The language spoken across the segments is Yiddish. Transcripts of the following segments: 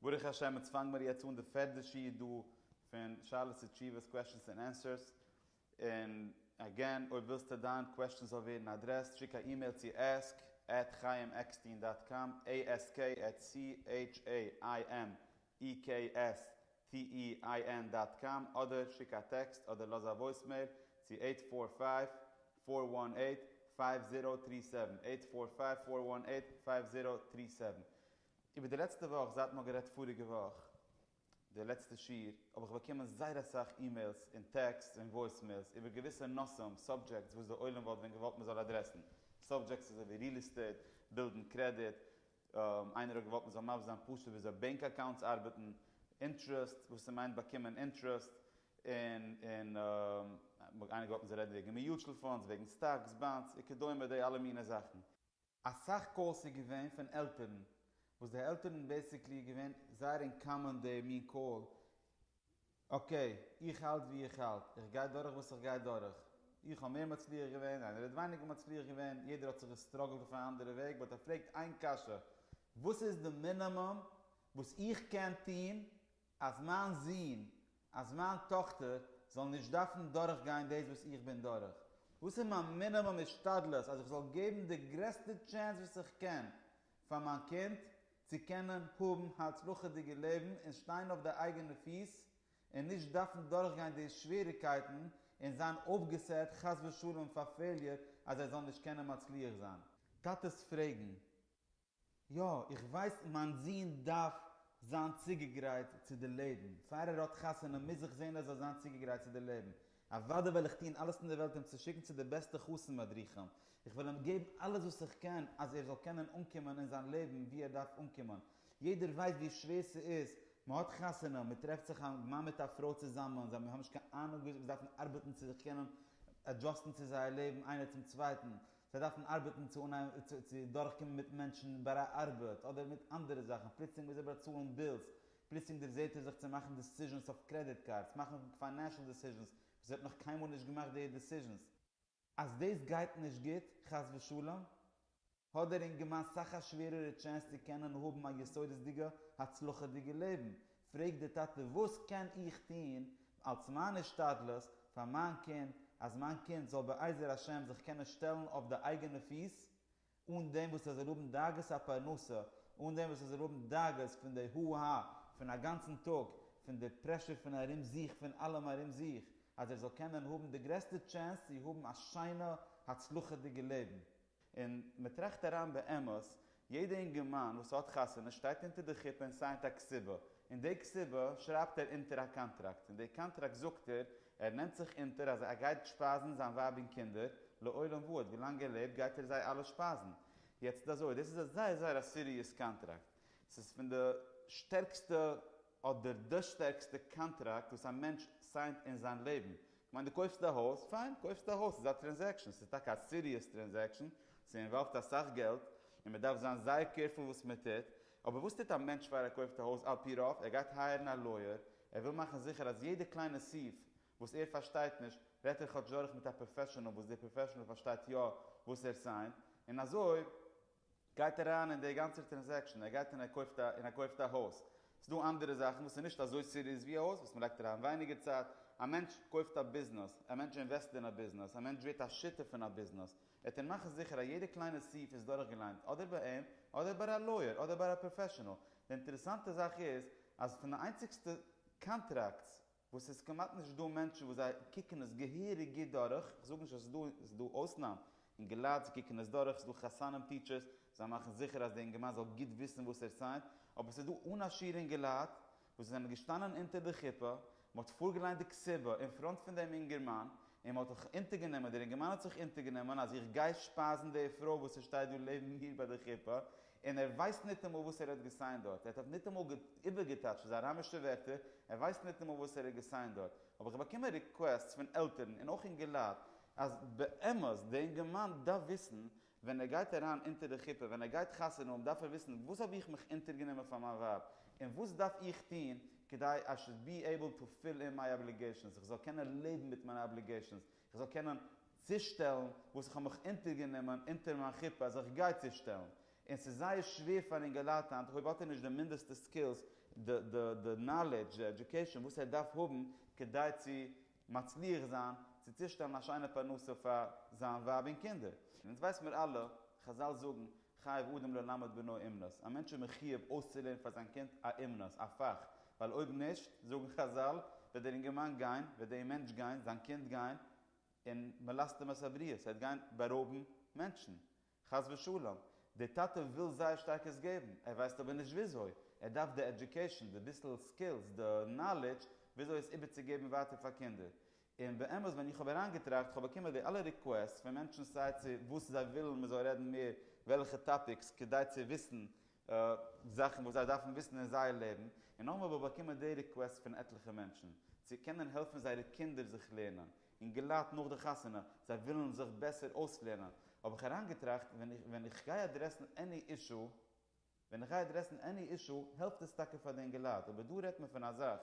ברוך השם אונז פאנג מיר יעצט אן די פערדע שיעור דא פון שאלות ותשובות, קוועשטענס ענד ענסערס, און אגעין אויב ווילסטו דיין קוועשטען זאל ווערן אדרעסט שיק א אימעיל צו עסק עט חיים עקסטין דאט קאם, עי עס קעי עט סי עיטש עי איי עם אי קעי עס טי אי איי ען דאט קאם, אדער שיק א טעקסט אדער לאז א וואויסמעיל צו עיט פאר פייוו פאר וואן עיט פייוו זירא טרי סעווען, עיט פאר פייוו פאר וואן עיט פייוו זירא טרי סעווען. איבער די לעצטע וואך זייט מ'האט גערעדט פאריגע וואך די לעצטע שיעור האב איך באקומען זייער אסאך אימעילס און טעקסטס און וואויסמעילס איבער געוויסע נושאים, סאבדזשעקטס, וואס די עולם וואלט ווען געוואלט מ'זאל אדרעסן. סאבדזשעקטס אזוי ווי ריעל עסטעיט, בילדן קרעדיט, איינער האט געוואלט מ'זאל מבסס זיין פשוט וויאזוי בענק אקאונטס ארבעטן, אינטרעסט, וואס ס'מיינט באקומען אינטרעסט, און און איינער האט געוואלט מ'זאל רעדן וועגן מיוטשל פאנדס, וועגן סטאקס, באנדס, וכדומה די אלע מיני זאכן. אסאך קאלס איז געווען פון עלטערן וואס די עלטערן בעסיקלי איז געווען זייער אינקאמען די מין קאל אקעי איך האלט ווי איך האלט איך גיי דורך וואס איך גיי דורך איך האב מער מצליח געווען איינער האט ווייניגער מצליח געווען יעדער האט זיך געסטראגעלט אויף א אנדערע וועג באט ער פרעגט איין קשיא וואס איז די מינאמום וואס איך קען טוהן אז מיין זון, אז מיין טאכטער זאלן נישט דארפן דורכגיין דאס וואס איך בין דורך? וואס איז מיין מינימום השתדלות אז איך זאל געבן די גרעסטע טשענס וואס איך קען פאר מיין קינד צו קענען האבן הצלחה'דיגע לעבן און שטיין אויף די אייגענע פיס און נישט דארפן דורכגיין די שוועריגקייטן און זיין אויפגעסעט חס ושלום פאר פעיליער אז ער זאל נישט קענען מצליח זיין? טאטעס פרעגן יא, איך ווייס מיין זון דארף זיין צוגעגרייט צו די לעבן, פאר ער האט חתונה מוז איך זען ער זאל זיין צוגעגרייט צו די לעבן, אוודאי וועל איך טון אלעס אין די וועלט אים צו שיקן צו די בעסטע חתן מדריכים, איך וועל אים געבן אלעס וואס איך קען אז ער זאל קענען אנקומען אין זיין לעבן ווי ער דארף אנקומען, יעדער ווייסט ווי שווער ס'איז, מ'האט חתונה, מ'טרעפט זיך א מאן מיט א פרוי צוזאמען, זיי האבן נישט קיין אהנונג ווי אזוי זיי דארפן ארבעטן צו זיך קענען עדזשאסטן צו זייער לעבן איינער צום צווייטן, זיי דארפן ארבעטן צו דורכקומען מיט מענטשן ביי א ארבעט אדער מיט אנדערע זאכן, פלוצלינג מוז ער באצאלן בילס, פלוצלינג דערזעט ער זיך צו מאכן דעסיזשענס אויף קרעדיט קארדס, מאכן פיינענשל דעסיזשענס וואס ער האט נאך קיינמאל נישט געמאכט די דעסיזשענס. אז דאס גייט נישט גוט, חס ושלום, האט דער אינגערמאן סאך א שווערערע טשענס צו קענען האבן א יסודות'דיגע הצלחה'דיגע לעבן, פרעגט דער טאטע וואס קען איך טון אלס מיין השתדלות פאר מיין קינד אז מיין קינד זאל בעזר השם זיך קענען שטעלן אויף די אייגענע פיס אן דעם וואס ער זאל האבן דאגות הפרנסה, אן דעם וואס ער זאל האבן דאגות פון די הו הא פון א גאנצן טאג, פון די פרעשור פון ארום זיך פון אלעם ארום זיך, אז ער זאל קענען האבן די גרעסטע טשענס צו האבן א שיינע הצלחה'דיגע לעבן. און מען טראכט אריין באמת, יעדע אינגערמאן וואס האט חתונה שטייט אונטער די חופה און סיינט א כתובה, און די כתובה שרייבט ער אונטער א קאנטראקט, און די קאנטראקט זאגט ער, ער נעמט זיך אונטער אז ער גייט שפייזן זיין ווייב און קינדער לעולם ועד, ווילאנג ער לעבט גייט ער זיי אלע שפייזן. יעצט אזוי, דאס איז א זייער זייער א סיריעס קאנטראקט, ס'איז פון די שטערקסטע אדער די שטערקסטע קאנטראקט וואס א מענטש סיינט אין זיין לעבן, כ'מיין דו קויפסט א הויז, פיין, קויפסט א הויז, ס'איז א טרענזעקשאן, ס'איז טאקע א סיריעס טרענזעקשאן, ס'אינוואלווד אסאך געלט, און מ'דארף זיין זייער קעירפול וואס מ'טוט, אבער וואס טוט א מענטש פאר ער קויפט א הויז? על פי רוב, ער גייט הייערן א לויער, ער וויל מאכן זיכער אז יעדע קליינע סעיף וואס ער פארשטייט נישט, רעדט ער כאטש דורך מיט א פראפעשאנעל וואס דער פראפעשאנעל פארשטייט יא וואס ער סיינט, און אזוי. גייט אריין אין דער גאנצער טרענזעקשאן, ער גייט און ער קויפט א און ער קויפט א הויז, ס'איז דא אנדערע זאכן וואס איז נישט אזוי סיריעס ווי א הויז וואס מ'לייגט אריין ווייניגער צייט, א מענטש קויפט א ביזנעס, א מענטש אינוועסט אין א ביזנעס, א מענטש ווערט א שותף פון א ביזנעס, וועט ער מאכן זיכער אז יעדע קליינע סעיף איז דורכגעליינט אדער ביי אים אדער ביי א לויער אדער ביי א פראפעשענעל, די אינטערעסאנטע זאך איז אז פון די איינציגסטע קאנטראקטס. וואס ס'איז כמעט נישט דא מענטשן וואס זיי קוקן עס געהעריג גוט דורך, כ'זאג נישט אז ס'איז דא אויסנאם אינגעלייט, זיי קוקן עס דורך, ס'איז דא חתנים טיטשערס, זיי מאכן זיכער אז די אינגערמאן זאל גוט וויסן וואס ער סיינט, אבער ס'איז דא אן א שיעור אינגעלייט וואס זיי זענען געשטאנען אונטער די חופה, מ'האט פארגעליינט די קציבה אין פראנט פון דעם אינגערמאן, און מ'האט זיך אונטערגענומען, דער אינגערמאן האט זיך אונטערגענומען אז איך גיי שפייזן די פרוי וואס ס'שטייט דא לעבן מיר ביי די חופה, און ער ווייסט ניטאמאל וואס ער האט געסיינט דארט, ער האט אויף ניטאמאל איבערגעטייטשט ס'איז אראמישע ווערטער, ער ווייסט ניטאמאל וואס ער האט געסיינט דארט, האב איך באקומען ריקוועסטס פון עלטערן און אויך אינגעלייט אז באמת די אינגערמאן דארף וויסן ווען ער גייט אריין אונטער די חופה ווען ער גייט חתונה האבן דארף ער וויסן וואס האב איך מיך אונטערגענומען פאר מיין ווייב און וואס דארף איך טון כדי I should be able to fill in my obligations איך זאל קענען לעבן מיט מיינע אבליגעישאנס איך זאל קענען צושטעלן וואס איך האב מיך אונטערגענומען אונטער מיין חופה אז איך גיי צושטעלן, און ס'איז זייער שווער פאר אינגעלייט היינט, אויב האט ער נישט די מינדעסטע סקילס, די די די נאלעדזש, די עדיוקעישאן וואס ער דארף האבן כדי צו מצליח זיין צו צושטעלן א שיינע פרנסה פאר זיין ווייב און קינדער. און אונז ווייס מיר אלע, חזל זאגן, חייב אדם ללמד בנו אומנות, א מענטש איז מחיוב אויסצולערנען פאר זיין קינד א אומנות, א פאך, ווייל אויב נישט, זאגן חזל, וועט דער אינגערמאן גיין, וועט דעם מענטש גיין, זיין קינד גיין, און מלסטם את הבריות, ער וועט גיין בארויבן מענטשן, חס ושלום. דער טאטע וויל זייער שטארק עס געבן, ער ווייסט אבער נישט וויאזוי, ער דארף די עדיוקעישאן, די ביסל סקילס, די נאלידזש, וויאזוי עס איבערצוגעבן ווייטער פאר קינדער. און באמת ווען איך האב אריינגעטראכט, כ'האב באקומען די אלע ריקוועסטס פון מענטשן סיי צו וואס זיי ווילן מ'זאל רעדן מער וועלכע טאפיקס כדי צו וויסן זאכן וואס זיי דארפן וויסן אין זייער לעבן, און נאכדעם האב איך באקומען די ריקוועסט פון עטליכע מענטשן צו קענען העלפן זייערע קינדער זיך לערנען, און געלאט נאך די חתונה, זיי ווילן זיך בעסער אויסלערנען, האב איך אריינגעטראכט ווען איך גיי אדרעסן עני אישו, ווען איך גיי עדרעסן עני אישו העלפט עס טאקע פאר די אינגעלייט, אבער דא רעדט מען פון א זאך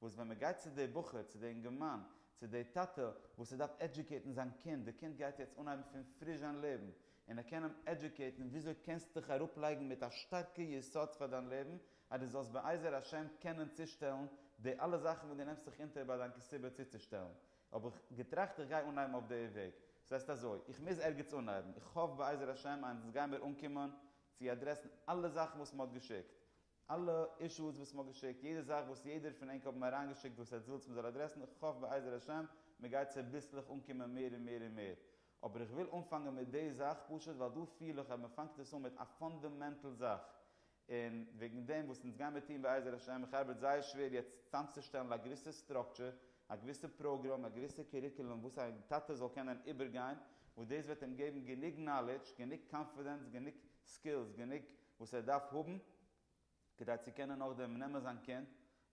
וואס ווען מען גייט צו די בחור, צו די אינגערמאן, צו די טאטע וואס ער דארף עדיוקעיטן זיין קינד, די קינד גייט יעצט אנהייבן פון פריש זיין לעבן, און ער קען אים עדיוקעיטן וויאזוי קענסט דיך אראפ לייגן מיט א שטארקע יסוד פאר דיין לעבן אז די זאלסט בעזר השם קענען צושטעלן די אלע זאכן וואס די נעמסט זיך אונטער ביי דיין קעסיבע צוצושטעלן, האב איך געטראכט איך גיי אנהייבן אויף די וועג, ס'הייסט אזוי, איך מוז ערגעץ אנהייבן, איך האף בעזר השם אז אונז גיימיר אנקומען צו אדרעסן אלע זאכן וואס מען האט געשיקט, אלע אישוס וואס מען האט געשיקט, יעדע זאך וואס יעדער פון ענק האבן אריינגעשיקט וואס עטץ ווילטס מען זאל אדרעסן, איך האף בעזר השם מען גייט צוביסלעך אנקומען מער און מער און מער. אבער איך וויל אנפאנגען מיט די זאך פשוט ווייל דא פיל איך אז מען פאנגט עס אן מיט א פאנדעמענטל זאך, און וועגן דעם וואס אונז גיימער טון בעזר השם, איך ארבעט זייער שווער יעצט צאמצושטעלן א געוויסע סטראקטשער, א געוויסע פראגראם, א געוויסע קוריקולום וואס א טאטע זאל קענען איבערגיין, וואס דאס וועט אים געבן גענוג נאלידזש, גענוג קאנפידענס, גענוג סקילס, גענוג וואס ער דארף האבן, כדי צו קענען נאכדעם נעמען זיין קינד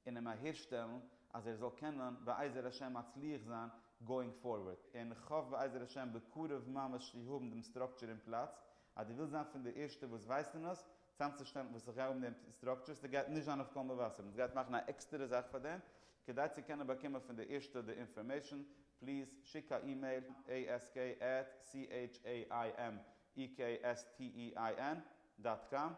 און אים אהערשטעלן אז ער זאל קענען בעזר השם מצליח זיין גאואינג פארווערד. און איך האף בעזר השם בקרוב ממש צו האבן דעם סטראקטשער אין פלאץ, אז דו ווילסט זיין פון די ערשטע וואס ווייסן עס, צאמצושטעלן וואס איך גיי האבן דעם סטראקטשער, ס'דער גייט נישט זיין אויף קול מבשר, איך מוז גייט מאכן א עקסטערע זאך פאר דעם, כדי צו קענען באקומען פון די ערשטע די אינפארמעישן, פליז שיק א אימעיל, asc עט chaimekstein דאט קאם,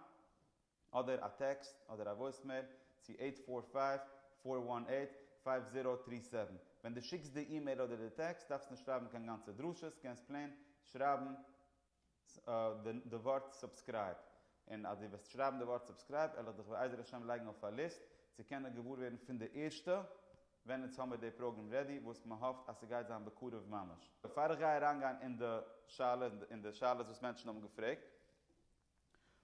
אדער א טעקסט אדער א וואויסמעיל צו עיט פאר פייוו פאר וואן עיט פייוו זירא טרי סעווען, ווען דו שיקסט די אימעיל אדער די טעקסט דארפסט נישט שרייבן קיין גאנצע דרשות, קענסט פלעין שרייבן. די ווארט סובסקרייב, און אז דו וועסט שרייבן די ווארט סובסקרייב וועל איך דיך בעזר השם לייגן אויף א ליסט צו קענען געוואר ווערן פון די ערשטע ווען אונז האבן די פראגרעם רעדי וואס מען האפט אז ס'גייט זיין בקרוב ממש. בעפאר איך גיי אריינגיין אין די שאלות און די שאלות וואס מענטשן האבן געפרעגט,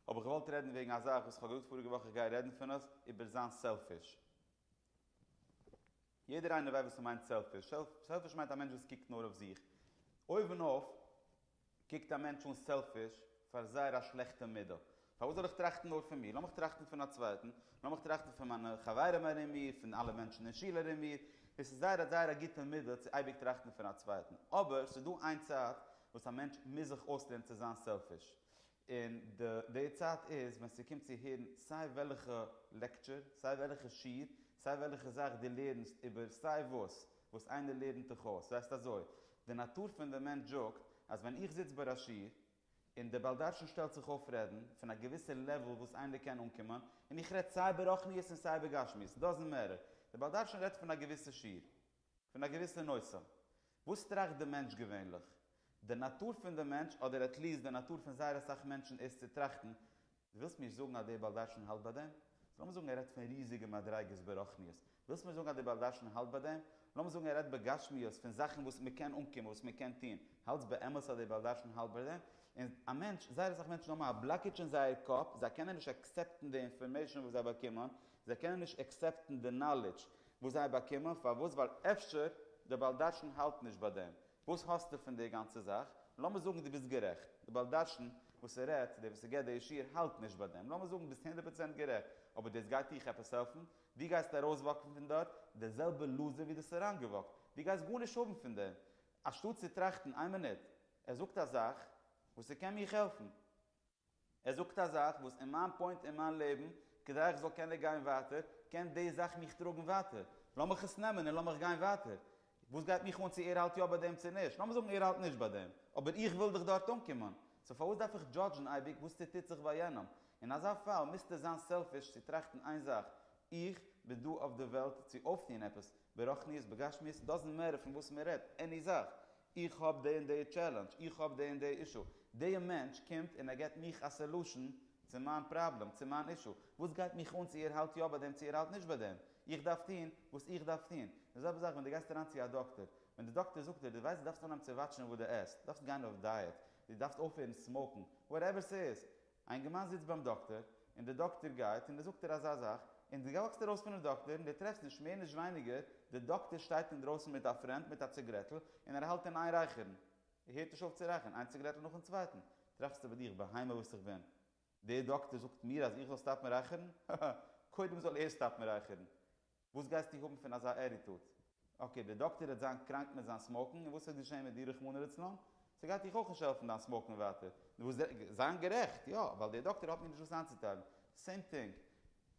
האב איך געוואלט רעדן וועגן א זאך וואס איך האב געזאגט פאריגע וואך איך גיי רעדן פון עס, איבער זיין סעלפיש. יעדער איינער ווייסט וואס ס'מיינט סעלפיש. סעלפיש מיינט א מענטש וואס קוקט נאר אויף זיך. אויבן אויף קוקט א מענטש אן סעלפיש פאר זייער א שלעכטע מידה. פארוואס זאל איך טראכטן נאר פון מיר? לאמיך טראכטן פון א צווייטן. לאמיך טראכטן פון מיינע חברים ארום מיר, פון אלע מענטשן אין שול ארום מיר. דאס איז זייער זייער א גוטע מידה צו אייביג טראכטן פון א צווייטן. אבער ס'איז דא איין צייט וואס א מענטש מוז זיך אויסלערנען צו זיין סעלפיש. און די די צייט איז ווען ס'קומט צו הערן סיי וועלכע לעקטשור, סיי וועלכע שיעור, סיי וועלכע זאך דו לערנסט איבער סיי וואס וואס איינער לערנט דיך אויס, זייסט אזוי, די נאטור פון די מענטש זאגט אז ווען איך זיץ ביי א שיעור און די בעל דרשן שטעלט זיך אויף רעדן פון א געוויסע לעוועל וואס איינער קען אנקומען, און איך רעד סיי איבער רוחניות און סיי איבער גשמיות, דאזענט מעטער, די בעל דרשן רעדט פון א געוויסע שיעור. פון א געוויסע נושא. וואס טראכט די מענטש געווענליך? די נאטור פון די מענטש, אדער עט ליעסט די נאטור פון זייער אסאך מענטשן איז צו טראכטן, דו ווילסט מיר זאגן אז דער בעל דרשן האלט ביי דעם? סאו לאמיר זאגן ער רעדט פון ריזיגע מדריגות ברוחניות, ווילסט מיר זאגן אז דער בעל דרשן האלט ביי דעם? לאמיר זאגן ער רעדט בגשמיות פון זאכן וואס מען קען אנקומען, וואס מען קען טון, האלטסט באמת אז דער בעל דרשן האלט ביי דעם? און א מענטש, זייער אסאך מענטשן האבן א בלאקעדזש אין זייער קאפ, זיי קענען נישט עקסעפטן די אינפארמעישאן וואס זיי באקומען, זיי קענען נישט עקסעפטן די נאלידזש וואס זיי באקומען, פארוואס? ווייל אפשר די בעל דרשן האלט נישט ביי דעם. וואס האסטו פון די גאנצע זאך? לאמיר זאגן דו ביסט גערעכט, די בעל דרשן וואס רעדט, דער וואס געבט די שיעור האלט נישט ביי דעם, לאמיר זאגן ביסט הונדערט פראצענט גערעכט, אבער דאס גייט דיך עפעס העלפן? דו גייסט ארויסוואקן פון דארט דער זעלבער לוזער ווי דו האסט אריינגעוואקט, דו גייסט גארנישט האבן פון דעם, אנשטאט צו טראכטן, איין מינוט, ער זאגט א זאך וואס ס'קען מיך העלפן. ער זאגט א זאך וואס אין מיין פוינט אין מיין לעבן, כדי איך זאל קענען גיין ווייטער, קען די זאך מיך טראגן ווייטער. לאמיך עס נעמען און לאמיך גיין ווייטער. וואס גייט מיך אן צו ער האלט יא ביי דעם צו נישט. לאמיר זאגן ער האלט נישט ביי דעם. אבער איך וויל דאך דארט אנקומען. סאו פארוואס דארף איך דזשאדזשן אייביג וואס ס'טוט זיך ביי יענעם? אין אזא פאל מוזטו זיין סעלפיש צו טראכטן איין זאך, איך בין דא אויף די וועלט צו אויפטון עפעס, ברוחניות, בגשמיות, דאזענט מעטער פון וואס מ'רעדט, עני זאך. איך האב די און די טשעלענדזש, איך האב די און די אישו, די מענטש קומט און ער געבט מיך א סעלושען צו מיין פראבלעם, צו מיין אישו, וואס גייט מיך אן צו ער האלט יא ביי דעם צו ער האלט נישט ביי דעם, איך דארף טון וואס איך דארף טון, די זעלבע זאך ווען די גייסט אריין צו א דאקטער, ווען די דאקטער זאגט דיר די ווייסט די דארפסט אנהייבן צו וואטשן וואס די עסט, דארפסט גיין אויף דייעט, די דארפסט אויפהערן סמאוקן, וואטעווער ס'איז, א אינגערמאן זיצט ביים דאקטער, און דער דאקטער גייט, און ער זאגט דיר אזא זאך, און דו וואקסט ארויס פונעם דאקטער, און דו טרעפסט נישט מער נישט ווייניגער, דער דאקטער שטייט אינדרויסן מיט א פרענד מיט א ציגרעטל, און ער האלט אין איין רייכערן. ער הערט נישט אויף צו רייכערן, איין ציגרעטל נאכן צווייטן. טראכסטו ביי דיך, בהמה וואס איך בין, דער דאקטער זאגט מיר אז איך זאל סטאפן רייכערן? הא הא הא! קודם זאל ער סטאפן רייכערן. וואס גייסטו האבן פון אזא עריטוט? אקעי, דער דאקטער וועט זיין קראנק מיט זיין סמאוקן, און וואס וועט געשען מיט דיר רחמנא לצלן? ס'גייט דיך אויך נישט העלפן דיין סמאוקן ווייטער. נו וואס דען? זיין גערעכט, יא, ווייל דער דאקטער האט מיר נישט וואס איינצוטיילן. סעים טינג.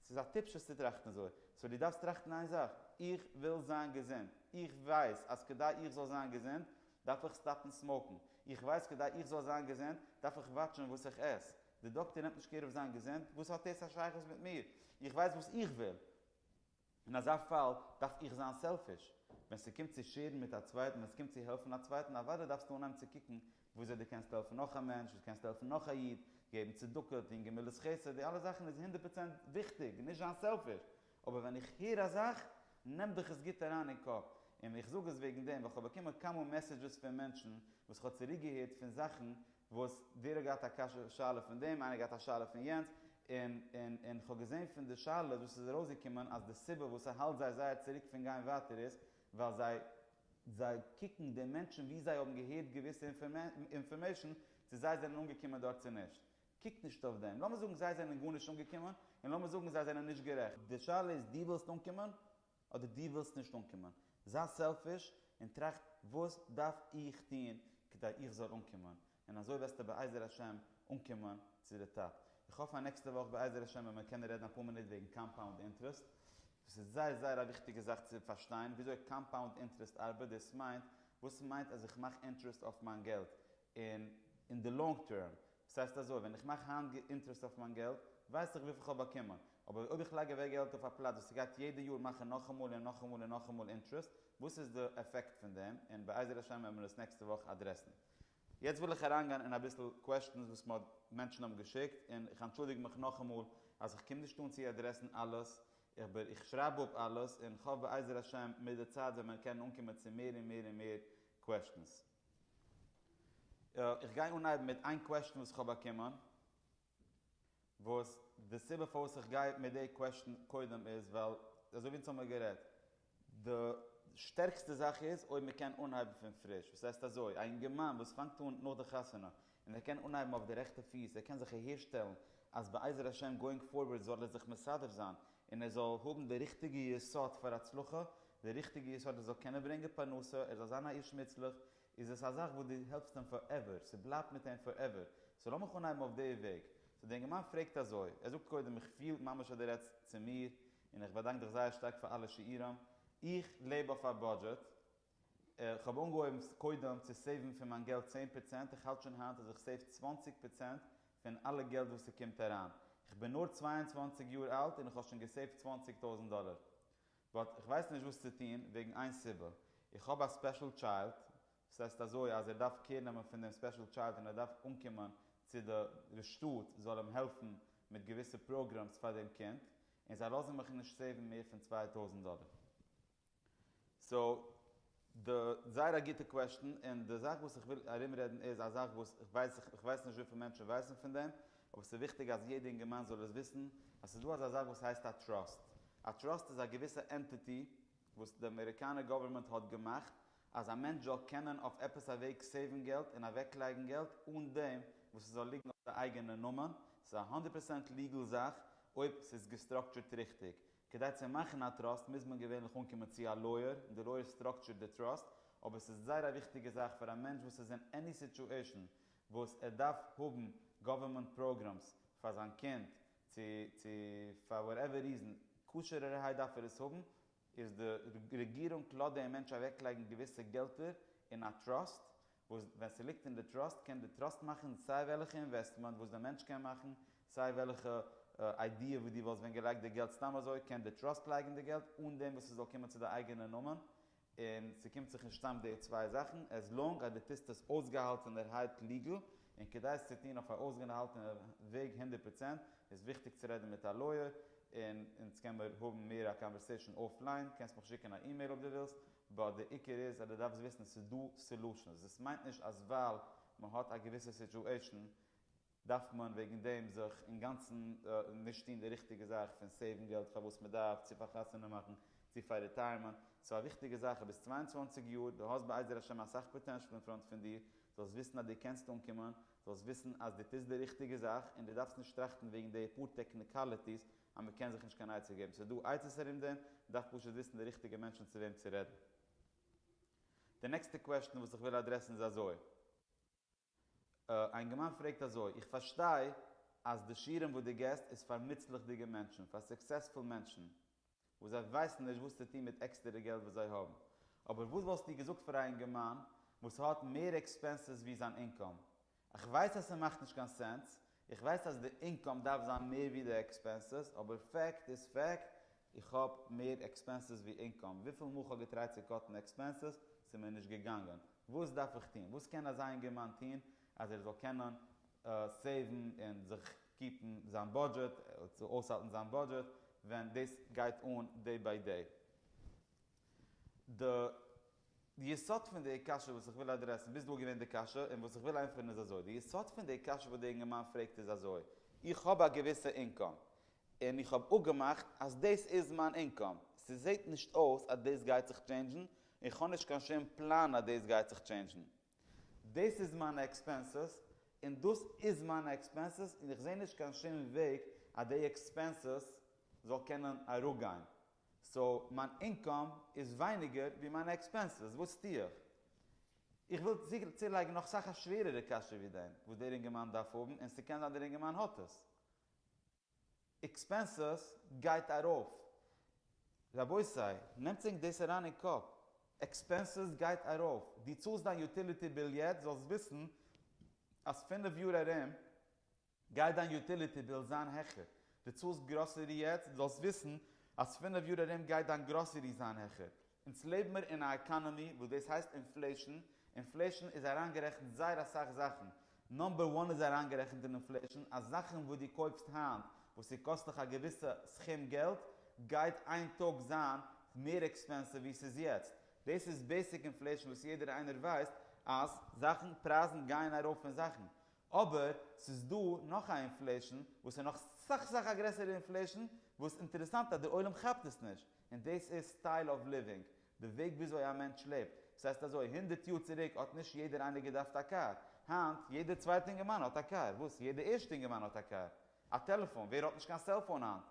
ס'איז א טיפשות צו טראכטן אזוי. סאו דו דארפסט טראכטן איין זאך, איך וויל זיין געזונט. איך ווייס אז כדי איך זאל זיין געזונט, דארף איך סטאפן סמאוקן. איך ווייס כדי איך זאל זיין געזונט, דארף איך וואטשן וואס איך עס. דער דאקטער נעמט נישט קעיר אויף זיין געזונט, וואס האט דאס א שייכות מיט מיר? איך ווייס וואס איך וויל. אין אזא פאל דארף איך זיין סעלפיש? ווען ס'קומט צו שעירן מיט א צווייטן, ווען ס'קומט צו העלפן א צווייטן, אוודאי דארפסטו אנהייבן צו קוקן וויאזוי דו קענסט העלפן נאך א מענטש, וויאזוי קענסטו העלפן נאך א איד, געבן צדקה, טון גמילות חסד, די אלע זאכן איז הונדערט פראצענט וויכטיג, נישט זיין סעלפיש, אבער ווען איך הער א זאך, נעמט דיך עס גוט אריין אין קאפ, און איך זאג עס וועגן דעם, ווייל כ'האב באקומען כמה מעסעדזשעס פון מענטשן וואס כ'האב צוריקגעהערט פון זאכן וואס ווער האט געהאט א קשיא שאלה פון דעם איינער געהאט א שאלה פון יענץ, און און און כ'האב געזעהן פון די שאלות וואס איז ארויסגעקומען אז די סיבה וואס ס'האלט זיי זייער צוריק פון גיין ווייטער איז ווייל זיי זיי קוקן די מענטשן ווי זיי האבן געהערט געוויסע אינפארמעישן צו זיי זענען אנגעקומען דארט צו נישט, קוק נישט אויף דעם, לאמיר זאגן זיי זענען גארנישט אנגעקומען און לאמיר זאגן זיי זענען נישט גערעכט. די שאלה איז דו ווילסט אנקומען אדער דו ווילסט נישט אנקומען. זיי סעלפיש און טראכט וואס דארף איך טון כדי איך זאל אנקומען, און אזוי וועסטו בעזר השם אנקומען צו די טאפ. איך האף אז נעקסטע וואך בעזר השם ווען מיר קענען רעדן אפאר מינוט וועגן קאמפאונד אינטרעסט. דאס איז זייער זייער א וויכטיגע זאך צו פארשטיין וויאזוי קאמפאונד אינטרעסט ארבעט, דאס מיינט וואס מיינט אז איך מאך אינטרעסט אויף מיין געלט און אין די לאנג טערם, דאס הייסט אזוי, ווען איך מאך היינט אינטערעסט אויף מיין געלט, ווייס איך וויפיל כ'האב באקומען, אבער אויב איך לייג אוועק געלט אויף א פלאץ וואס ס'גייט יעדע יאר מאכן נאכאמאל און נאכאמאל און נאכאמאל אינטערעסט, וואס איז די עפעקט פון דעם, און בעזר השם וועט מען עס נעקסטע וואך אדרעסן. יעצט וויל איך אריינגיין אין אביסל קוועשטענס וואס מ'האט מענטשן האבן געשיקט, און איך אנטשולדיג מיך נאכאמאל אז איך קום נישט אן צו אדרעסן אלעס, אבער איך שרייב אפ אלעס, און כ'האף בעזר השם מיט די צייט וועט מען קענען אנקומען צו מער און מער און מער קוועשטענס. איך גיי אנהייבן מיט איין קוועשטן וואס איך האב באקומען, וואס די סיבה פארוואס איך גיי מיט די קוועשטן קודם איז ווייל אזוי ווי אונז האמיר גערעדט, די שטערקסטע זאך איז אויב מען קען אנהייבן פון פריש, וואס הייסט אזוי, א אינגערמאן וואס פאנגט אן נאך די חתונה, און ער קען אנהייבן אויף די רעכטע פיס, ער קען זיך אהערשטעלן אז בעזר השם גאואינג פארווארד זאל ער זיך מסדר זיין און ער זאל האבן די ריכטיגע יסוד פאר הצלחה, די ריכטיגע יסוד ער זאל קענען ברענגען פרנסה, ער זאל זיין א איש מוצלח, איז עס א זאך וואס דו העלפסט אים פאר עווער, ס'בלייבט מיט אים פאר עווער, סאו לאמיך אנהייבן אויף די וועג. סאו די אינגערמאן פרעגט אזוי, ער זאגט קודם איך פיל ממש אז דו רעדסט צו מיר, און איך באדאנק דיך זייער שטארק פאר אלע שיעורים, איך לעב אויף א בודזשעט, איך האב אנגעהויבן קודם צו סעיוון פון מיין געלט צען פראצענט, איך האלט שוין היינט אז איך סעיוו צוואַנציק פראצענט פון אלע געלט וואס ס'קומט אריין, איך בין נאר צוויי און צוואַנציק יאר אלט און איך האב שוין געסעיווט צוואַנציק טויזנט דאלער, באט איך ווייס נישט וואס צו טון וועגן איין סיבה, איך האב א ספעשל טשיילד, ס'הייסט אזוי אז ער דארף קעיר נעמען פון דעם ספעשל טשיילד און ער דארף אנקומען צו די די שטאט זאל אים העלפן מיט געוויסע פראגראמס פאר דעם קינד, און זיי לאזן מיך נישט סעיוון מער פון צוויי טויזנט דאלער. סאו, די, זייער א גוטע קוועשטען, און די זאך וואס איך וויל ארום רעדן איז א זאך וואס איך ווייס, איך ווייס נישט וויפיל מענטשן ווייסן פון דעם, אבער ס'איז וויכטיג אז יעדע אינגערמאן זאל עס וויסן, אז ס'איז דא אזא זאך וואס הייסט א טראסט. א טראסט איז א געוויסע ענטיטי וואס די אמעריקאנע גאווערמענט האט געמאכט אז א מענטש זאל קענען אויף עפעס א וועג סעיוון געלט און אוועק לייגן געלט אן דעם וואס ס'זאל ליגן אויף די אייגענע נאמען. ס'איז א הונדערט פראצענט ליגעל זאך אויב ס'איז געסטראקטשערט ריכטיג. כדי צו מאכן א טראסט מוז מען געווענליך אנקומען צו א לויער און די לויער סטראקטשערט די טראסט, אבער עס איז זייער א וויכטיגע זאך פאר א מענטש וואס איז אין עני סיטועשאן וואס ער דארף האבן גאווערמענט פראגראמס פאר זיין קינד צו צו פאר וואטעווער ריזען כשר'ערהייט דארף ער עס האבן איז די רעגירונג לאזט דעם מענטש אוועקלייגן געוויסע געלטער אין א טראסט וואס ווען ס'ליגט אין די טראסט קען די טראסט מאכן סיי וועלכע אינוועסטמענט וואס די מענטש קען מאכן, סיי וועלכע איידיע וואס דו וואלסט ווען געלייגט די געלט סתם אזוי קען די טראסט לייגן די געלט אן דעם וואס ס'זאל קומען צו די אייגענע נאמען און ס'קומט זיך נישט צאם די צוויי זאכן עז לאנג אז דו טוסט עס אויסגעהאלטענערהייט ליגעל און כדי עס צו טון אויף א אויסגענהאלטענע וועג הונדערט פראצענט איז וויכטיג צו רעדן מיט א לויער און אונז קען מיר האבן מער א קאנווערסעישאן אויף ליין קענסט מיך שיקען א אימעיל אויב דו ווילסט באט די עיקר איז אז דו דארפסט וויסן עס איז דא סעלושענס, דאס מיינט נישט אז ווייל מען האט א געוויסע סיטועשען דארף מען וועגן דעם זיך אינגאנצן נישט טון די ריכטיגע זאך פון סעיוון געלט פאר וואס מען דארף, צו פאר חתונה מאכן, צו פאר ריטייערמענט, סאו א וויכטיגע זאך איז ביסט צוויי און צוואַנציק יאר, דו האסט בעזר השם אסאך פאטענשל אין פראנט פון דיר, זאלסט וויסן אז דו קענסט אנקומען, זאלסט וויסן אז דו טוסט די ריכטיגע זאך און דו דארפסט נישט טראכטן וועגן די פאר טעקניקאליטיס אז מען קען זיך נישט קיין עצה געבן, ס'איז דא עצות ארום דעם, מען דארף פשוט וויסן די ריכטיגע מענטשן צו וועם צו רעדן. די נעקסטע קוועשטן וואס איך וויל אדרעסן איז אזוי. א אינגערמאן פרעגט אזוי, איך פארשטיי אז די שירעם וואס דו געסט איז פאר נוצליכדיגע מענטשן, פאר סוקסעספול מענטשן, וואס זיי ווייסן נישט וואס צו טון מיט עקסטערע געלט וואס זיי האבן, אבער וואס וואלסטו געזאגט פאר א אינגערמאן וואס האט מער עקספענסעס ווי זיין אינקאם? איך ווייס אז ס'מאכט נישט קיין סענס, איך ווייס אז די אינקאם דארף זיין מער ווי די עקספענסעס, אבער פעקט איז פעקט, איך האב מער עקספענסעס ווי אינקאם, וויפיל מאל כ'האב געטרייט צו קאטן עקספענסעס, ס'מיר נישט געגאנגען, וואס דארף איך טון? וואס קען אזא אינגערמאן טון אז ער זאל קענען סעיוון און זיך קיפן זיין בודזשעט, אויסהאלטן זיין בודזשעט, ווען דאס גייט אן דעי ביי דעי? די יסוד פון די קשיא וואס איך וויל אדרעסן, ביז דא איז געווען די קשיא, און וואס איך וויל ענטפערן איז אזוי, די יסוד פון די קשיא וואס די אינגערמאן פרעגט איז אזוי, איך האב א געוויסע אינקאם, און איך האב אפגעמאכט אז דאס איז מיין אינקאם, ס'זעט נישט אויס אז דאס גייט זיך טשעינדזשן, און איך האב נישט קיין שום פלאן אז דאס גייט זיך טשעינדזשן. דאס איז מיינע עקספענסעס, און דאס איז מיינע עקספענסעס, און איך זע נישט קיין שום וועג אז די עקספענסעס זאל קענען אראפגיין, סאו מיין אינקאם איז ווייניגער ווי מיינע עקספענסעס, וואס טו איך? איך וויל צולייגן נאך סאך א שווערערע קשיא ווי דעם וואס דער אינגערמאן דארף האבן און ס'קען זיין דער אינגערמאן האט עס. עקספענסעס גייט ארויף. רבותי, נעמטס ענק דאס אריין אין קאפ. עקספענסעס גייט ארויף. דו צאלסט דיין יוטיליטי ביל יעצט זאלסט וויסן אז פינף יאר ארום גייט דיין יוטיליטי ביל זיין העכער? דו צאלסט גראסערי יעצט? זאלסט וויסן אז פינף יאר ארום גייט דיין גראסערי זיין העכער. אונז לעב מיר אין א עקאנעמי וואס דאס הייסט אינפלעישן, אינפלעישן איז אריינגערעכנט זייער אסאך זאכן, נאמבער וואן איז אריינגערעכנט אין אינפלעישן אז זאכן וואס דו קויפסט היינט וואס ס'קאסט דיך א געוויסע סכום געלט גייט איין טאג זיין מער עקספענסיוו ווי ס'איז יעצט, דאס איז בעיסיק אינפלעישן וואס יעדער איינער ווייסט אז זאכן פרייזן גייען ארויף און זאכן אבער ס'איז דא נאך א אינפלעישן וואס איז נאך סאך סאך א גרעסערע אינפלעישן וואס אינטערעסאנט אז דער עולם כאפט עס נישט און דאס איז סטייל אוו ליווינג, די וועג וויאזוי א מענטש לעבט. ס'הייסט אזוי, הונדערט יאר צוריק האט נישט יעדער איינער געדארפט א קאר, היינט יעדער צווייטער אינגערמאן האט א קאר, וואס? יעדער ערשטער אינגערמאן האט א קאר, א טעלעפאן, ווער האט נישט קיין סעלפאון היינט?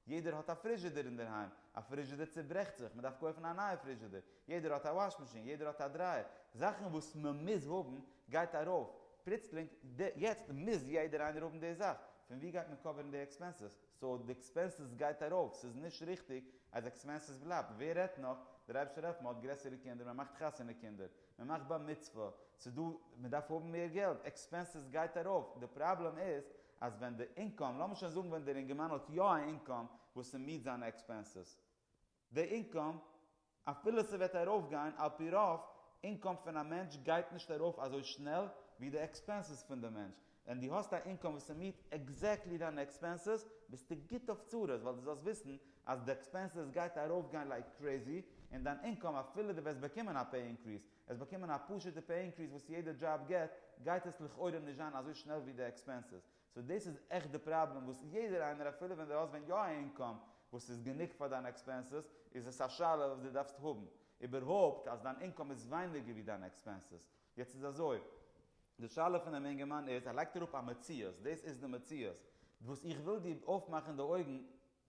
יעדער האט א פריזשידער אינדערהיים, א פריזשידער צוברעכט זיך, מען דארף קויפן א נייע פריזשידער, יעדער האט א וואש מאשין, יעדער האט א דרייער, זאכן וואס מען מוז האבן גייט ארויף פלוצלינג, יעצט מוז יעדער איינער האבן די זאך, פון ווי גייט מען קאווערן די עקספענסעס, סאו די עקספענסעס גייט ארויף, ס'איז נישט ריכטיג אז עקספענסעס בלייבט, ווער רעדט נאך, דער אייבערשטער העלפט מען האט גרעסערע קינדער, מען מאכט חתונה קינדער, מען מאכט בר מצוה, ס'דא, מען דארף האבן מער געלט, עקספענסעס גייט ארויף, די פראבלעם איז אז ווען די אינקאם, לאמיר שוין זאגן ווען דער אינגערמאן האט יא א אינקאם וואס ס'מיעט זיינע עקספענסעס, די אינקאם, אפילו ס'וועט ארויפגיין, על פי רוב, אינקאם פון א מענטש גייט נישט ארויף אזוי שנעל ווי די עקספענסעס פון די מענטש, ווען דו האסט א אינקאם וואס ס'מיעט עקזעקטלי דיינע עקספענסעס, ביסטו גוט אויף צרות, ווייל דו זאלסט וויסן אז די עקספענסעס גייט ארויפגיין לייק קרעזי, און דיין אינקאם, אפילו דו וועסט באקומען א פעי אינקריס, עס באקומען א פשוטע פעי אינקריס וואס יעדע דזשאב געט, גייט עס לכאורה נישט זיין אזוי שנעל ווי די עקספענסעס. סאו דאס איז עכט די פראבלעם וואס יעדער איינער אפילו ווען דו האסט ווען יא א אינקאם וואס איז גענוג פאר דיינע עקספענסעס איז עס א שאלה וואס דו דארפסט האבן איבערהויפט אז דיין אינקאם איז ווייניגער ווי דיינע עקספענסעס. יעצט איז אזוי, די שאלה פון דעם אינגערמאן איז, ער לייגט אראפ א מציאות, דאס איז די מציאות, וואס איך וויל דיר אויפמאכן די אויגן,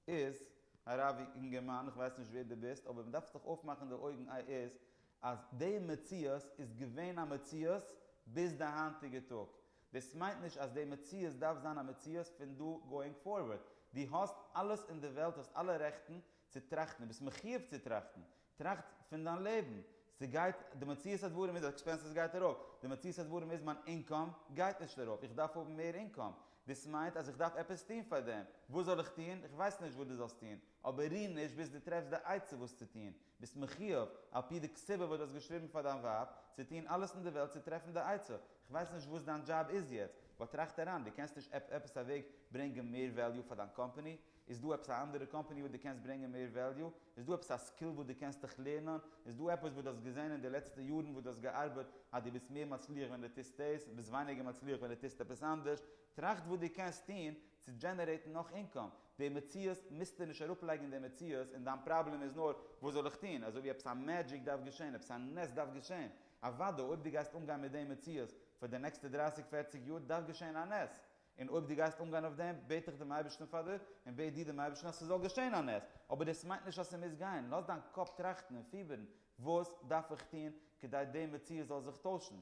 איז, הרב אינגערמאן, איך ווייס נישט ווער דו ביסט, אבער מ'דארף זיך אויפמאכן די אויגן איי איז אז די מציאות איז געווען א מציאות ביז די היינטיגע טאג. דאס מיינט נישט אז די מציאות דארף זיין א מציאות פון דא גאואינג פארווארד. דו האסט אלעס אין די וועלט, דו האסט אלע רעכטן צו טראכטן, דו ביסט מחיוב צו טראכטן. טראכט פון דיין לעבן, ס'גייט, די מציאות הדברים איז אז עקספענסעס גייט ארויף, די מציאות הדברים איז מיין אינקאם גייט נישט ארויף, איך דארף האבן מער אינקאם, דאס מיינט אז איך דארף עפעס טון פאר דעם, וואס זאל איך טון? איך ווייס נישט וואס דו זאלסט טון, אבער ריר נישט ביז דו טרעפסט די עצה וואס צו טון, ביסט מחיוב, על פי די כתובה וואס דו האסט געשריבן פאר דיין ווייב, צו טון אלעס אין די וועלט צו טרעפן די עצה, איך ווייס נישט וואס דיין דזשאב איז יעצט, באט טראכט אריין, דו קענסט נישט עפ עפעס א וועג ברענגען מער וועליו פאר דיין קאמפאני? איז דא עפעס א אנדערע קאמפעני וואס דו קענסט ברענגען מער וועליו? איז דא עפעס א סקיל וואס דו קענסט דיך לערנען? איז דא עפעס וואס דו האסט געזען אין די לעצטע יארן וואס דו האסט געארבעט אז דו ביסט מער מצליח ווען דו טוסט דאס, ביסט ווייניגער מצליח ווען דו טוסט עפעס אנדערש? טראכט וואס דו קענסט טון צו דזשענערעיטן נאך אינקאם. די מציאות מוזטו נישט אראפלייגן אין די מציאות און דיין פראבלעם איז נאר וואס זאל איך טון? אזוי ווי עפעס א מעדזשיק דארף געשען, עפעס א נס דארף געשען. אוודאי אויב דו גייסט אנגיין מיט די מציאות פאר די נעקסטע דרייסיג פערציג יאר דארף געשען א נס. און אויב דו גייסט אנגיין אויף דעם, בעט איך דעם אייבערשטן פאר דיר, און בעט דו דעם אייבערשטן אז ס'זאל געשען א נס, אבער דאס מיינט נישט אז ס'מוז גיין, לאז דיין קאפ טראכטן און פיבערן, וואס דארף איך טון כדי די מציאות זאל זיך טוישן?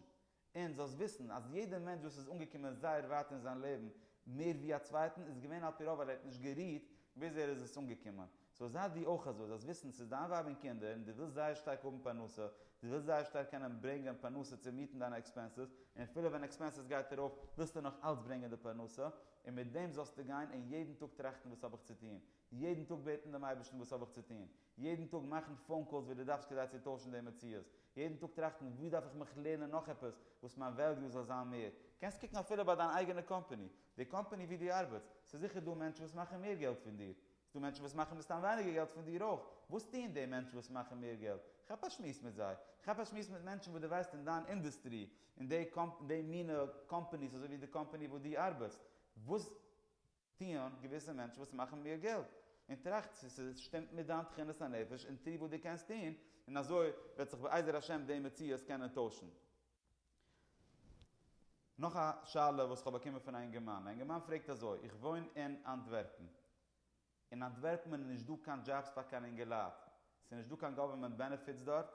און זאלסט וויסן אז יעדער מענטש וואס איז אנגעקומען זייער ווייט אין זיין לעבן, מער ווי א צווייטן, איז געווען על פי רוב אז ער האט נישט גערוהט ביז ער איז עס אנגעקומען, סאו זיי דו אויך אזוי, זאלסט וויסן ס'איז דיין ווייב און קינדער און דו ווילסט זייער שטארק האבן פרנסה, דו ווילסט זייער שטארק קענען ברענגען פרנסה צו מיעטן דיינע עקספענסעס, און אפילו ווען עקספענסעס גייט ארויף ווילסטו נאך אלץ ברענגען די פרנסה, און מיט דעם זאלסטו גיין און יעדן טאג טראכטן וואס האב איך צו טון, יעדן טאג בעטן דעם אייבערשטן וואס האב איך צו טון, יעדן טאג מאכן פאון קאלס ווי דו דארפסט כדי צו טוישן די מציאות, יעדן טאג טראכטן וואו דארף איך מיך לערנען נאך עפעס וואס מיין וועליו זאל זיין מער, קענסט קוקן אפילו ביי דיין אייגענע קאמפאני, די קאמפאני וואו דו ארבעטסט, ס'איז זיכער דא מענטשן וואס מאכן מער געלט פון דיר, ס'דא מענטשן וואס מאכן מסתם ווייניגער געלט פון דיר אויך. וואס טוען די מענטשן וואס מאכן מער געלט? כאפ א שמועס מיט זיי. כאפ א שמועס מיט מענטשן וואס דו ווייסט אין דיין אינדוסטרי, אין די די מינע קאמפאניס אזוי ווי די קאמפאני וואו דו ארבעטסט. וואס טוען געוויסע מענטשן וואס מאכן מער געלט? און טראכט צו ס'שטימט מיט דיין תכונת הנפש און טו וואס דו קענסט טון, און אזוי וועט זיך בעזר השם די מציאות קענען טוישן. נאך א שאלה וואס כ'האב באקומען פון א אינגערמאן, א אינגערמאן פרעגט אזוי, איך וואוין אין אנטווערפן, אין אנטווערפן איז נישט דא קיין דזשאבס פאר קיין אינגעלייט, ס'איז נישט דא קיין גאווערמענט בענעפיטס דארט,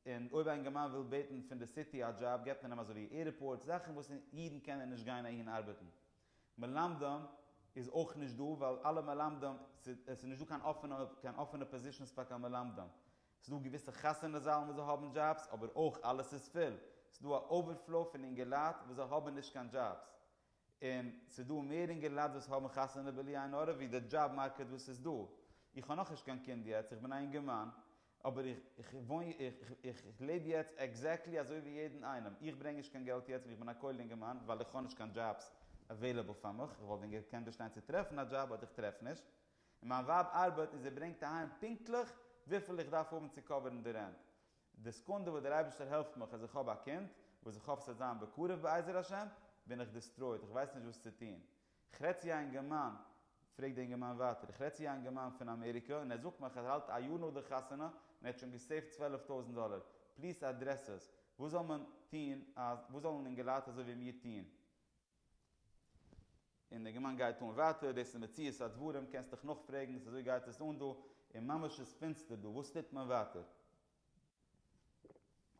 און אויב א אינגערמאן וויל בעטן פון די סיטי א דזשאב געבט מען אים אזוי ווי עירפארטס, זאכן וואס אידן קענען נישט גיין אהין ארבעטן, מלמדים איז אויך נישט דא ווייל אלע מלמדים, ס'איז נישט דא קיין אפענע קיין אפענע פאזישאנס פאר קיין מלמדים, ס'דא געוויסע חתונה זאלן וואס זיי האבן דזשאבס אבער אויך אלעס איז פול, ס'דא א אווערפלאו פון אינגעלייט וואס זיי האבן נישט קיין דזשאבס, און ס'דא מער אינגעלייט וואס האבן חתונה בלי עין הרע ווי די דזשאב מארקעט וואס איז דא, איך האב נאכנישט קיין קינד יעצט, איך בין א אינגערמאן, אבער איך וואוין, איך לעב יעצט עקזעקטלי אזוי ווי יעדן איינעם, איך ברענג נישט קיין געלט יעצט ווי איך בין א כולל אינגערמאן ווייל איך האב נישט קיין דזשאבס עוועילעבל פאר מיך, איך וואלט ווען געקענט באשטיין צו טרעפן א דזשאב אט איך טרעף נישט, און מיין ווייב ארבעט און זי ברענגט אהיים פונקטליך וויפיל איך דארף האבן צו קאווערן די רענט. די סעקונדע וואס דער אייבערשטער העלפט מיך אז איך האב א קינד, וואס איך האף ס'וועט זיין בקרוב בעזר השם, בין איך דיסטרויד, איך ווייס נישט וואס צו טון. איך רעד צו א אינגערמאן, פרעגט דער אינגערמאן ווייטער, איך רעד צו א אינגערמאן פון אמעריקע און ער זאגט מיך אז ער האלט א יאר נאך די חתונה און ער האט שוין געסעיווט צוועלף טויזנט דאלער, פליס אדרעס עס. וואס זאל מען טון, וואס זאלן אינגעלייט אזוי ווי מיר טון? און די גמ' גייט אן ווייטער, דאס איז מציאות הדברים, קענסט דיך נאכפרעגן וואס אזוי גייט עס אן דא, און ממש איז פינסטער דא, וואס טוט מען ווייטער?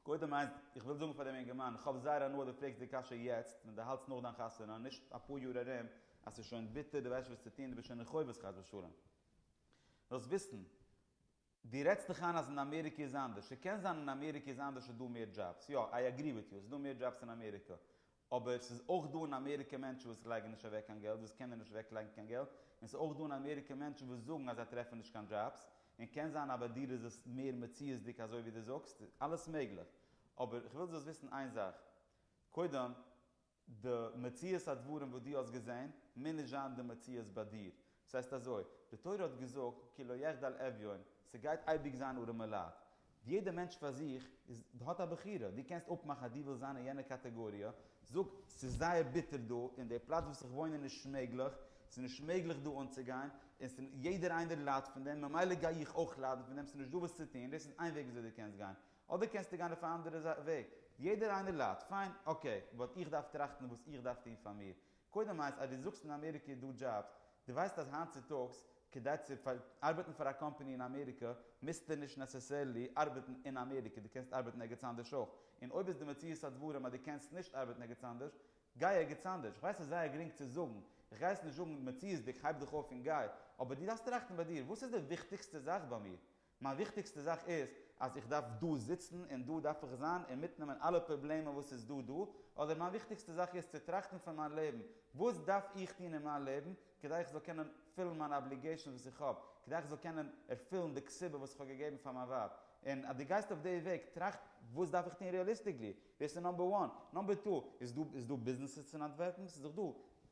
קודם איינס, איך וויל זאגן פאר דעם אינגערמאן, איך האב זייער הנאה דו פרעגסט די קשיא יעצט, ווען דו האלטסט נאך דיין חתונה, נישט אפאר יאר ארום, אז ס'איז שוין ביטער, דו ווייסט נישט וואס צו טון, דו ביסט שוין אין חובות חס ושלום. זאלסט וויסן. דו רעדסט דיך איין אז אין אמעריקע איז אנדערש. ס'קען זיין אין אמעריקע איז אנדערש ס'איז דא מער דזשאבס. יא, איי אגרי וויט יו, ס'איז דא מער דזשאבס אין אמעריקע. אבער ס'איז אויך דא אין אמעריקע מענטשן וואס לייגן נישט אוועק קיין געלט, וואס קענען נישט אוועק לייגן קיין געלט. און ס'איז אויך דא אין אמעריקע מענטשן וואס זאגן אז זיי טרעפן נישט קיין דזשאבס. און קען זיין אז ביי דיר איז עס מער מציאות'דיג אזוי ווי דו זאגסט. אלעס מעגליך. אבער כ'וויל זאלסט וויסן איין זאך. קודם. די מציאות הדברים וואס דו האסט געזען מוז נישט זיין די מציאות ביי דיר. ס'הייסט אזוי, די תורה האט געזאגט כי לא יחדל אביון, ס'גייט אייביג זיין ארעמע לייט. יעדע מענטש פאר זיך איז האט א בחירה, דו קענסט אפמאכן אז דו ווילסט זיין אין יענע קאטעגאריע, זאג, ס'איז זייער ביטער דא, אין די פלאץ וואס איך וואוין איז נישט מעגליך, ס'איז נישט מעגליך דא אנצוגיין, און יעדער איינער ליידט פון דעם, ממילא גיי איך אויך ליידן פון דעם, ס'איז נישט דא וואס צו טון, דאס איז איין וועג וויאזוי דו קענסט גיין, אדער קענסטו גיין אויף א אנדערע וועג, יעדער איינער ליידט, פיין, אקעי, באט איך דארף טראכטן וואס איך דארף טון פאר מיר, קודם הייסט אז דו זאגסט אין אמעריקע איז דא דזשאבס, דו ווייסט אז היינט צוטאגס כדי צו ארבעטן פאר א קאמפאני אין אמעריקע מוזטו נישט נעסעסערלי ארבעטן אין אמעריקע, דו קענסט ארבעטן ערגעץ אנדערש אויך, און אויב איז די מציאות הדברים אז דו קענסט נישט ארבעטן ערגעץ אנדערש, גיי ערגעץ אנדערש, איך ווייס ס'איז זייער גרינג צו זאגן, איך גיי עס נישט זאגן מציאות'דיג הייב דיך אויף און גיי, אבער דו דארפסט טראכטן ביי דיר, וואס איז די וויכטיגסטע זאך ביי מיר? מיין וויכטיגסטע זאך איז אז איך דארף דא זיצן און דא דארף איך זיין און מיטנעמען אלע פראבלעמען וואס איז דא דא, אדער מיין וויכטיגסטע זאך איז צו טראכטן פון מיין לעבן, וואס דארף איך טון אין מיין לעבן כדי איך זאל קענען פילן מיינע אבליגעישאנס וואס איך האב, כדי איך זאל קענען ערפילן די כסבה וואס איך האב געגעבן פאר מיין ווייב, און אז דו גייסט אויף די וועג, טראכט וואס דארף איך טון ריעליסטיקלי, דאס איז נאמבער וואן, נאמבער טו, איז דא ביזנעסעס אין אנטווערפן, ס'איז דאך דא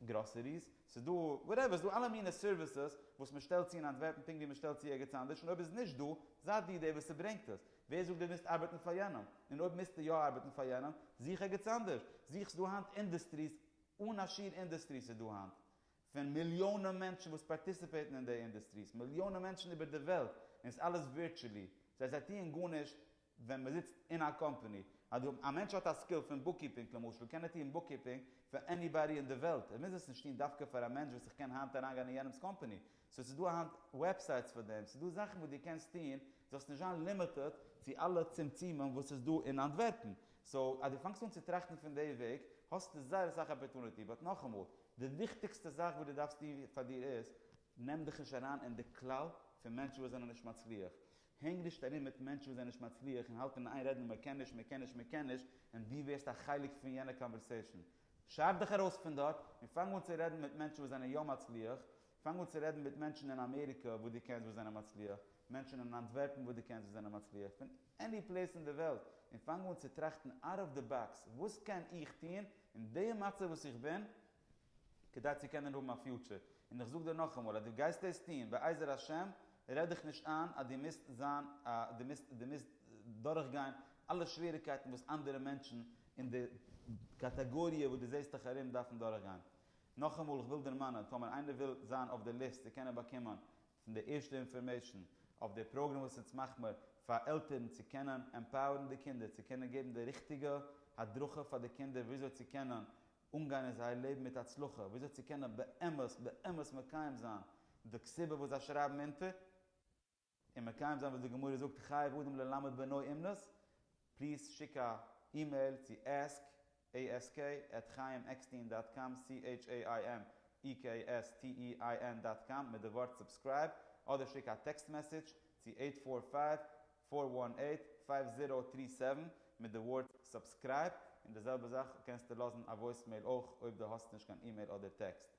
גראסעריס, ס'איז דא וואטעווער, ס'איז דא אלע מיני סערוויסעס וואס מ'שטעלט צו אין אנטווערפן פונקט ווי מ'שטעלט צו ערגעץ אנדערש און אויב איז נישט דא, זיי דו דער וואס ס'ברענגט עס. ווער זאגט דו מוזט ארבעטן פאר יענעם? און אויב מוזטו יא ארבעטן פאר יענעם, זוך ערגעץ אנדערש. זוך, ס'איז דא היינט אינדוסטריס, אן א שיעור אינדוסטריס איז דא היינט, פון מיליאנען מענטשן וואס פארטיסיפעיטן אין די אינדוסטריס, מיליאנען מענטשן איבער די וועלט, און ס'איז אלעס ווירטשעלי, זיי זיי טוען גארנישט, ווען מען זיצט אין א קאמפעני, אז דו א מענטש האט א סקיל פון בוקקיפינג למשל, קען ער טוען בוקקיפינג פאר עניבאדי אין די וועלט, ער מוז עס נישט טוהן דווקא פאר א מענטש וואס איך קען היינט אריינגיין אין יענעמס קאמפעני, סאו ס'איז דא היינט וועבסייטס פאר דעם, ס'איז דא זאכן וואס דו קענסט טוהן, זאלסט נישט זיין לימיטעד צו אלע צמצומים וואס איז דא אין אנטווערפן, סאו אז דו פאנגסט אן צו טראכטן פון די וועג, האסטו זייער אסאך אפערטוניטי, באט נאכאמאל, די וויכטיגסטע זאך וואס דו דארפסט טוהן פאר דיר איז, נעם דיך נישט אריין אין די כלל פון מענטשן וואס זענען נישט מצליח, הענג נישט ארום מיט מענטשן וואס זענען נישט מצליח און האלט אין איין רעדן מען קען נישט מען קען נישט מען קען נישט און דו ווערסט א חלק פון יענע קאנווערסעישאן. שרייב דיך ארויס פון דארט און פאנג אן צו רעדן מיט מענטשן וואס זענען יא מצליח, פאנג אן צו רעדן מיט מענטשן אין אמעריקע וואס דו קענסט וואס זענען מצליח, מענטשן אין אנטווערפן וואס דו קענסט וואס זענען מצליח, פון עני פלעיס אין די וועלט, און פאנג אן צו טראכטן אוט אוו די באקס, וואס קען איך טון אין די מצב וואס איך בין כדי צו קענען האבן א פיוטשער. און איך זאג דיר נאכאמאל אז דו גייסט דאס טון, בעזר השם, רעד דיך נישט איין אז דו מוזט זיין א, דו מוזט, דו מוזט דורכגיין אלע שוועריגקייטן וואס אנדערע מענטשן אין די קאטאגאריע וואס דו זעסט דיך ארום דארפן דורכגיין. נאכאמאל איך וויל דערמאנען, טאמער איינער וויל זיין אויף די ליסט צו קענען באקומען פון די ערשטע אינפארמעישן אויף די פראגראם וואס אונז מאך מיר פאר עלטערן צו קענען עמפאוערן די קינדער, צו קענען געבן די ריכטיגע הדרכה פאר די קינדער וויאזוי צו קענען אנגיין אין זייער לעבן מיט הצלחה, וויאזוי צו קענען באמת באמת מקיים זיין די כתובה וואס זיי שרייבן אונטער, און מקיים זיין וואס די גמרא זאגט חייב אדם ללמד בנו אומנות, פליז שיק א אימעיל צו ask, ask, at chaimekstein דאט קאם, c-h-a-i-m-e-k-s-t-e-i-n דאט קאם, מיט די ווארט סובסקרייב, אדער שיק א טעקסט מעסעדזש צו אייט פאר פייוו פֿאָר וואַן עיט פֿייוו זיראָו טרי סעווען מיט די ווארט סובסקרייב און די זעלבע זאך קענסטו לאזן א וואויסמעיל אויך אויב די האסט נישט קיין אימעיל אדער טעקסט.